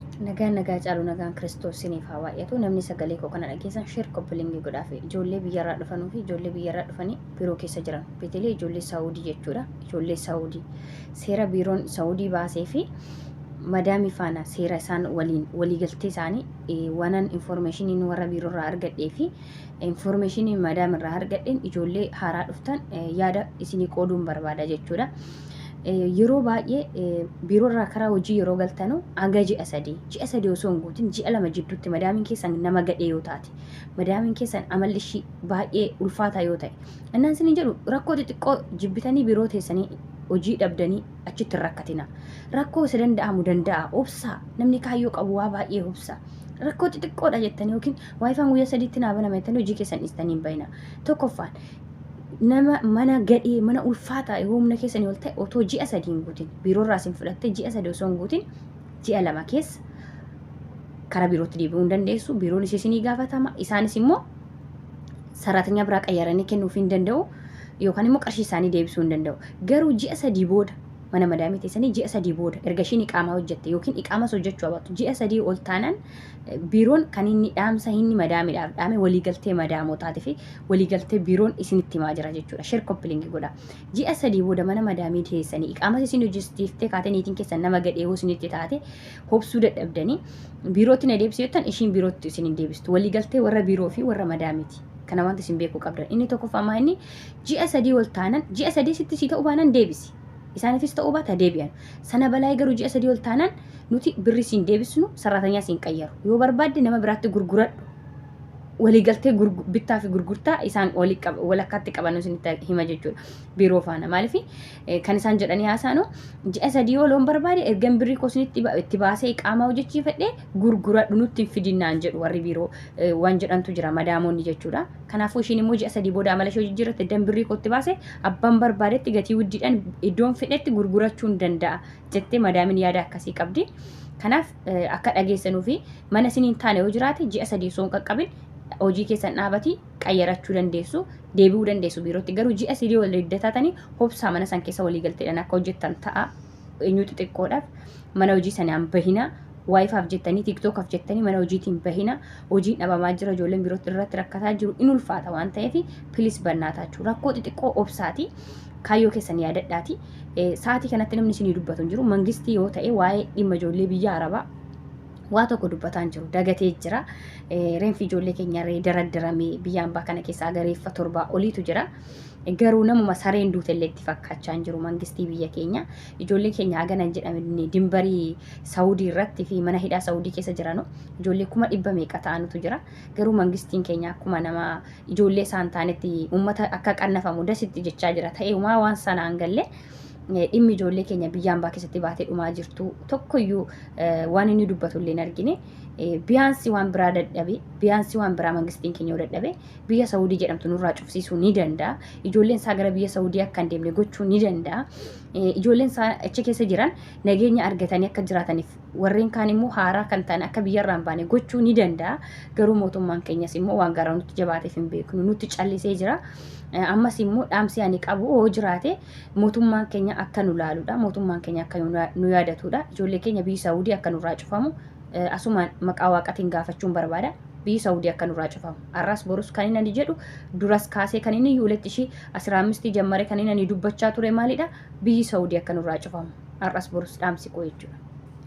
Nagaan nagaa caalu nagaan Kiristoos siniif haa baay'atu. Namni sagalee koo kana dhageessan sheer koppilingii godhaa fi ijoollee biyyarraa dhufanuu fi ijoollee biyyarraa dhufanii biiroo keessa jiran. Beetelee ijoollee Saawudii jechuudha. Ijoollee Saawudii. Seera biiroon Saawudii baasee fi madaamii faana seera isaan waliin waliigaltee isaanii eh, wanan informeeshiniin warra biiroo irraa argadhee fi informeeshinii madaam irraa argadheen ijoollee haaraa dhuftan eh, yaada isinii qooduun barbaada jechuudha. yeroo baay'ee biiroo irraa karaa hojii yeroo galtanu hanga ji'a sadii ji'a sadii osoo hin guutin ji'a lama jidduutti madaamiin keessan nama gadhee yoo taate madaamiin keessan amalli ishii baay'ee ulfaataa yoo ta'e innaan isin jedhu rakkoo xixiqqoo jibbitanii biiroo teessanii hojii dhabdanii achitti hin rakkatina rakkoo isa danda'amu danda'a obsaa namni kaayyoo qabu waa baay'ee obsa rakkoo xixiqqoodha jettanii yookiin waayifaan guyyaa sadiitti naa banama jettanii hojii keessan dhiistanii hin bayina tokkoffaan nama mana gadhee mana ulfaataa yoo humna keessanii ol ta'e otoo ji'a sadii hin guutin biiroo irraa isin fudhattee ji'a sadii osoo hin guutin ji'a lama keessa karaa biirootti deebi'uu hin dandeessu biiroon ishee isinii gaafatama isaanis immoo saraatanyaa biraa qayyaranii kennuuf hin danda'u yookaan immoo qarshii isaanii deebisuu hin danda'u garuu ji'a sadii booda mana madaamii teessanii ji'a sadii booda erga ishiin iqaamaa hojjette yookiin iqaamas hojjechuu abaatu ji'a sadii ol taanaan Biiroon kan inni dhaamsa inni madaamiidhaaf dhaame waliigaltee madaamotaatii fi waliigaltee biiroon isinitti himaa jira jechuudha. Sheer koppilingi godha. Ji'a sadii booda mana madaamii dhiyeessanii iqaamas isin hojjechiiftee kaatee niitiin keessan nama gadhee hoo isinitti taate hobsuu dadhabdanii biirootti na deebisee jettan ishiin biirootti isin hin deebistu. Waliigaltee warra biiroo fi warra madaamiiti. Kana wanti isin beekuu qabdan. Inni tokkoffaa maa inni ji'a sadii ol taanan ji'a sadii sitti sii ta'uu baanan deebisi. isaaniifis ta'uu baata deebi'an. Sana balaayee garuu ji'a sadii ol taanaan nuti birri siin deebisnu saraatanyaa siin qayyaru. Yoo barbaadde nama biraatti gurguradhu. Waliigaltee bittaa fi gurgurtaa isaan walakkaatti qabanuu isinitti hima jechuudha. Biiroo faana maaliif kan isaan jedhanii haasaanu ji'a sadii ol oon barbaade ergan birrii koo isinitti itti baasee qaamaa hojjechiifadhee gurguradhu nutti hin fidinnaan jedhu warri biiroo waan jedhantu jira madaamoonni jechuudha. Kanaafuu ishiin immoo ji'a sadii booda amala ishee jijjiirratte dan birrii kootti baase abbaan barbaadetti gatii wuddiidhaan iddoon fedhetti gurgurachuun danda'a jettee madaamin yaada akkasii qabdi. Kanaaf akka dhageessanuu fi mana isiniin taane yoo jiraate ji'a sadii osoo hin qaqqabin hojii keessan dhaabati qayyarachuu dandeessu deebi'uu dandeessu biirootti garuu ji'a sadii wal idda taatanii hobsaa mana san keessa walii galteedhaan akka hojjettan ta'a. eenyuu xixiqqoodhaaf mana hojii sanaan bahina waayifaaf jettanii tiiktookaaf jettanii mana hojiitiin bahina hojiin dhabamaa jira ijoolleen biroo irratti rakkataa jiru in ulfaata waan ta'eef pilis bannaataachuu rakkoo xixiqqoo obsaati kaayyoo keessan yaadadhaati sa'aatii kanatti namni isinii dubbatu hin jiru mangistii yoo ta'e waa'ee dhimma ijoollee biyya arabaa waa tokko dubbataan jiru dagatee jira reenfi ijoollee keenya daradaramee biyya ambaa kana keessaa gareeffa torbaa oliitu jira. Garuu namuma sareen duute illee itti fakkaachaa hin jiru mangistii biyya keenya. Ijoollee keenya hagana hin jedhamne dimbarii Saawudii irratti fi mana hidhaa Saawudii keessa jiranu ijoollee kuma dhibba meeqa ta'anutu jira. Garuu mangistiin keenya akkuma nama ijoollee isaa hin taanetti uummata akka qannafamu dasitti jechaa jira. Ta'eemaa waan sanaan galle dhimmi ijoollee keenya biyya ambaa keessatti baatee dhumaa jirtu tokkoyyuu waan inni dubbatu illee hin argine. Biyyaansi waan biraa dadhabe, biyyaansi waan biraa mangistiin keenya yoo dadhabe biyya Saawudii jedhamtu nurraa cufsiisuu ni danda'a. Ijoolleen isaa gara biyya Saawudii akka hin deemne gochuu ni danda'a. Ijoolleen isaa achi keessa jiran nageenya argatanii akka jiraataniif warreen kaan immoo haaraa kan ta'an akka biyyarraa hin baane gochuu ni danda'a. Garuu mootummaan keenyas immoo waan garaa nutti jabaateef hin beeknu nutti callisee jira. Ammas immoo dhaamsi ani qabu yoo jiraate mootummaan keenya akka nu laaludha. Mootummaan keenya akka nu yaadatudha. Ijoollee keenya biyyi Saawudii akka nurraa cufamu asumaan maqaa waaqatiin gaafachuun barbaada biyyi saudi akka nurraa cufamu arras borus kan inni ani jedhu duras kaasee kan inni yuuletti ishii asiraa ammistii jammare kan inni ani dubbachaa ture maalidha biyyi saudi akka nurraa cufamu arras borus dhaamsi koo jechuudha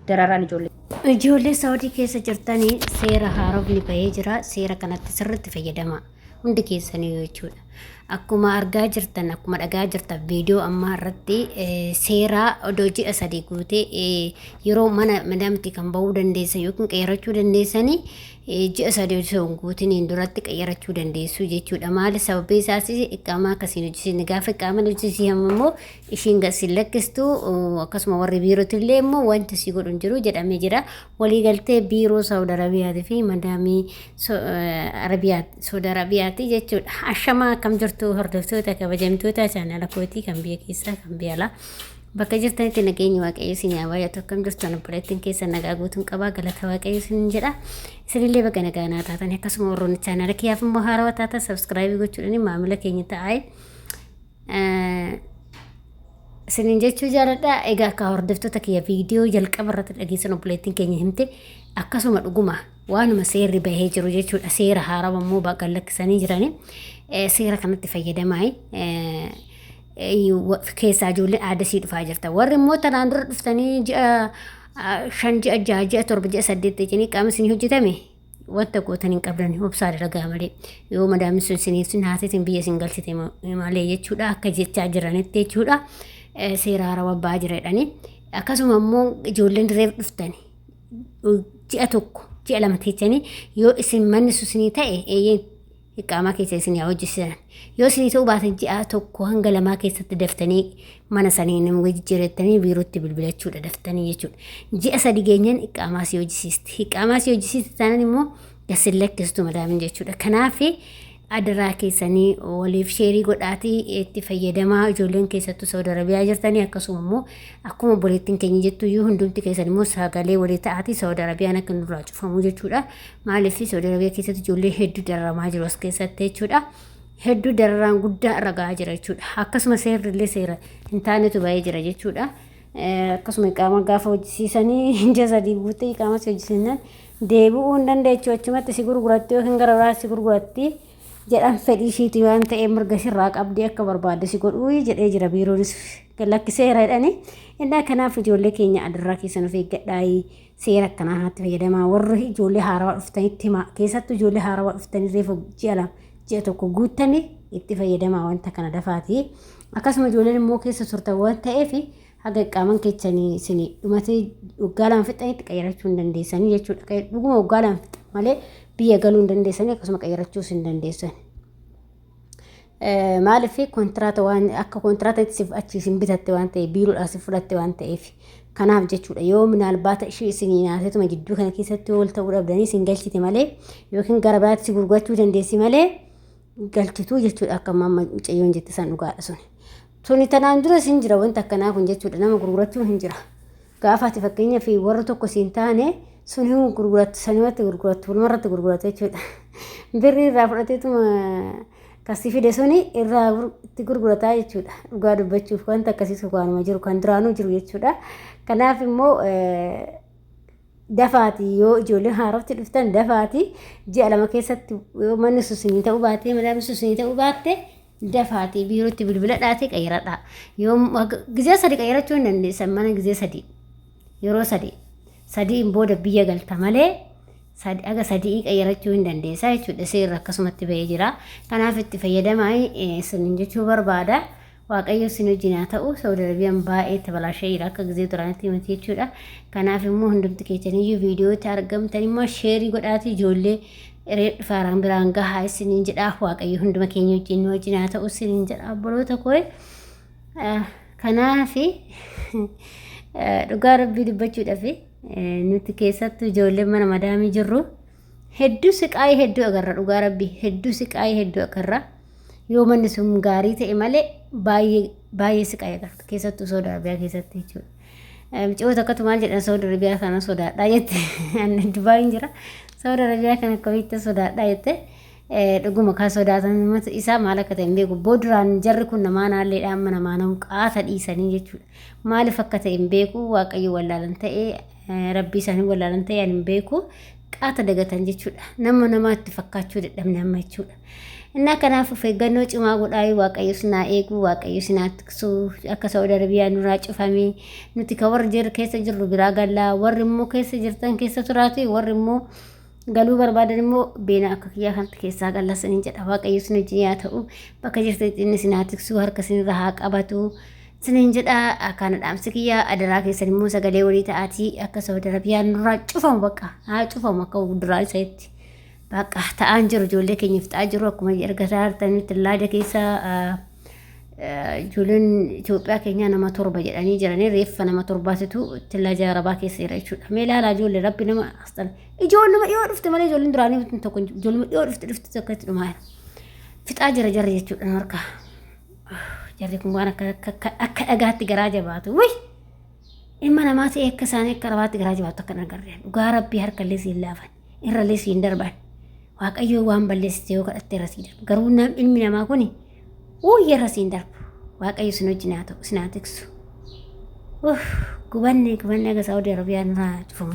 dararaan ijoollee Ijoollee Saawudii keessa jirtanii seera haarofni bahee jira. Seera kanatti sirriitti fayyadamaa. hundi keessaniyyuu jechuudha. Akkuma argaa jirtan akkuma dhagaa jirtan viidiyoo ammaa irratti seeraa odoo ji'a sadii guutee yeroo mana madaamti kan ba'uu dandeessan yookiin qeerachuu dandeessanii ji'a sadii osoo hin guutiniin duratti qeerachuu dandeessu jechuudha. Maali sababii isaas iqaamaa akkasiin hojjisiin gaafa iqaaman hojjisii hamma immoo ishiin gasiin lakkistu akkasuma warri biirootillee immoo wanti si godhu hin jiru jedhamee jira. waliigaltee biiroo Saawud Arabiyaatii fi madaamii Saawud Arabiyaati jechuudha. Ashamaa akkam jirtu hordoftoota kabajamtoota chaanala kootii kan biyya keessaa kan biyya alaa. Bakka jirtanitti nageenyi waaqayyo isin yaa baay'atu akkam jirtu ani obboleettiin keessa nagaa guutuun qabaa galata waaqayyo isin jedha. Isinillee bakka nagaa naa taatan akkasuma warroonni chaanala kiyyaaf immoo haarawaa taatan sabskraayibii gochuudhaan maamila keenya ta'aa. Isinin jechuu jaaladha. Egaa akka hordoftoota kiyya viidiyoo jalqaba irratti dhageessan obboleettiin keenya himte akkasuma dhuguma waanuma seerri bahee jiru jechuudha. Seera haarawa immoo baqa lakkisanii jirani. Seera kanatti fayyadamaayi. Keessaa ijoollee aadasii dhufaa jirta. Warri immoo tanaan dura dhuftanii ji'a shan ji'a jaha ji'a torba ji'a saddeet jechuun qaama isin hojjetame wanta gootan hin qabdan obsaa dalagaa malee yoo madaamni sun isiniif sin haasisin biyya isin galchite malee jechuudha akka jechaa jiranitti jechuudha seera haaraa abbaa jireedhani akkasuma immoo ijoolleen dirreef dhuftan ji'a tokko ji'a lama teechanii yoo isin manni susinii ta'e eeyyeen iqaamaa keessa isin haa hojjisiisan yoo isinii ta'uu baate ji'aa tokko hanga lamaa keessatti daftanii mana sanii nama jijjiirrettanii biirootti bilbilachuudha daftanii jechuudha ji'a sadi geenyaan iqaamaa si hojjisiisti iqaamaa si hojjisiisti taanaan immoo gasin lakkistu madaamin jechuudha kanaaf adaraa keessanii waliif sheerii godhaatii itti fayyadamaa ijoolleen keessattuu saudi arabiyaa jirtanii akkasuma immoo akkuma obboleettiin keenya jettu iyyuu hundumti keessan immoo sagalee walii ta'aatii saudi arabiyaan akka nurraa cufamu jechuudha Maaliif Saudi Arabia keessatti ijoollee hedduu dararamaa jiru as keessatti jechuudha. Hedduu dararaan guddaa irra gahaa jira jechuudha. Akkasuma seerri illee seera hin taanetu ba'ee jira jechuudha. Akkasuma qaama gaafa hojjisiisanii ija sadii guuttee qaama si hojjisiisnan deebi'uu hin dandeechu achumatti si gurguratti yookiin gara biraa si gurguratti jedhan fedhii ishiiti waan ta'eef mirga sirraa qabdee akka barbaadde si godhuu jedhee jira biiroonis lakkiseera jedhani. Innaa kanaaf ijoollee keenya adarraa keessan of eeggadhaa. Seera akkanaa kanatti fayyadamaa warri ijoollee haarawaa dhuftanitti himaa. Keessattuu ijoollee haarawaa dhuftanii reefu ji'a lama ji'a tokko guuttanii itti fayyadamaa wanta kana dafaati. Akkasuma ijoolleen immoo keessa turtan waan ta'eef haga qaaman keessanii isin dhumatee waggaa lama fixanitti qayyarachuu hin dandeessanii jechuudha. Dhuguma waggaa lama fixan malee biyya galuu hin dandeessanii akkasuma qayyarachuus hin dandeessan. Maaliif kontiraata waan akka kontiraatatti siif achi isin bitatte waan ta'eef biiroodhaa si fudhatte waan ta'eef kanaaf jechuudha yoo minaalbaata ishii isin naasetuma jidduu kana keessatti wal ta'uu dhabdanii isin galchite malee yookiin gara biraatti si gurgurachuu dandeessi malee galchituu jechuudha akka amma mucayyoon jette san dhugaadha suni. Suni tanaan dura isin jira wanti akkanaa kun jechuudha nama gurgurachuun hin jira. Gaafa ati fakkeenyaaf warra tokko siin taane sun hin gurgurattu sanumatti gurgurattu walumarratti gurgurattu jechuudha. Birrii irraa fudhateetuma kan si fide suni irraa gur- itti gurgurataa jechuudha. Dhugaa dubbachuuf wanta akkasiisu waanuma jiru kan duraanuu jiru jechuudha. Kanaaf immoo eh, dafaati yoo ijoolleen haarofti dhuftan dafaati ji'a lama keessatti yoo manni susinii ta'uu baatee madaamni susinii ta'uu baatte Dafaatii biirootti bilbiladhaatii qayyaradhaa. Yoom gizee sadi qayyarachuu hin dandeessan mana gizee sadi. Yeroo sadi. Sadiin booda biyya galta malee sadi- haga sadii qayyarachuu hin dandeessaa jechuudha. Seerri akkasumatti ba'ee jira. Kanaaf itti fayyadamaa eh, isiniin jechuu barbaada. Waaqayyo isin wajjin haa ta'u Saudi Arabiyaan baay'ee itti balaashee jira akka gizee duraanitti miti jechuudha. Kanaaf immoo hundumti keessaniyyuu viidiyootti argamtan immoo sheerii godhaatii ijoollee Eree dhufaaraan biraan gahaa isiniin jedhaa waaqayyo hunduma keenya wajjin nu wajjin haa ta'u isiniin jedha obboloota kooye. Kanaafi dhugaa rabbii dubbachuudhaaf nuti keessattuu ijoolleen mana madaamii jirru hedduu siqaayii hedduu agarra dhugaa rabbii hedduu siqaayii hedduu agarra yoo manni sun gaarii ta'e malee baay'ee baay'ee siqaayii agarra keessattuu soda arabiyaa keessatti jechuudha. Mucoo tokkotu maal jedhan Saudi Arabiyaa kana sodaadhaa jette. Ani Dubaayin jira. Saudi Arabiyaa kana akkamitti sodaadhaa jette. Dhuguma kan sodaatan isaa maal akka ta'e hin beeku. Booduraan jarri kun namaa naalleedha amma namaa namu qaata dhiisanii jechuudha. Maaliif akka ta'e hin beeku waaqayyo wallaalan ta'e rabbii isaanii wallaalan ta'e ani hin beeku. qaata dagatan jechuudha. Nama namaatti fakkaachuu dadhabne amma jechuudha. Innaa kanaaf of eeggannoo cimaa godhaayii waaqayyo sinaa eeguu waaqayyo sinaa tiksuu akka Saudi Arabiyaa nurraa cufamee nuti ka warri jirru keessa jirru biraa gallaa warri immoo keessa jirtan keessa turaati warri immoo galuu barbaadan immoo beena akka kiyyaa kanatti keessaa gallaa saniin jedha waaqayyo sin wajjin yaa ta'u bakka jirtanitti inni sinaa tiksuu harka sinirra haa qabatu Sinin jedha akkaana dhaamsi kiyya adaraa keessan immoo sagalee walii ta'aatii akka Saudi Arabiyaan nurraa cufamu bakka haa cufamu akka duraa isa itti bakka ta'aan jiru ijoollee keenya fixaa jiru akkuma ergataa hartanitti laada keessa ijoolleen Itoophiyaa keenyaa nama torba jedhanii jiranii reeffa nama torbaatitu itti laada arabaa keessa jira jechuudha. Mee ilaalaa ijoollee rabbi nama asxan ijoolluma dhiyoo dhufte malee ijoolleen duraanii tokko ijoolluma dhiyoo dhufte dhufte tokko itti dhumaa fixaa jira jarri jechuudha harkaa. Jarri kun waan akka akka akka akka dhagaatti garaa jabaatu. Wai! Ilma namaa ta'e akka isaanii akka rabaatti garaa jabaatu akka hin agarreen. Dhugaa rabbii harkallee siin laafan. Irrallee siin darban. Waaqayyoo waan balleessite yoo kadhatte irra siin darbu. Garuu nam ilmi namaa kun wayya irra siin darbu. Waaqayyo isin wajjin haa ta'u isin haa tiksu. Uff, Gubanne gubanne aga Saawudii Arabiyaa nurraa cufamu.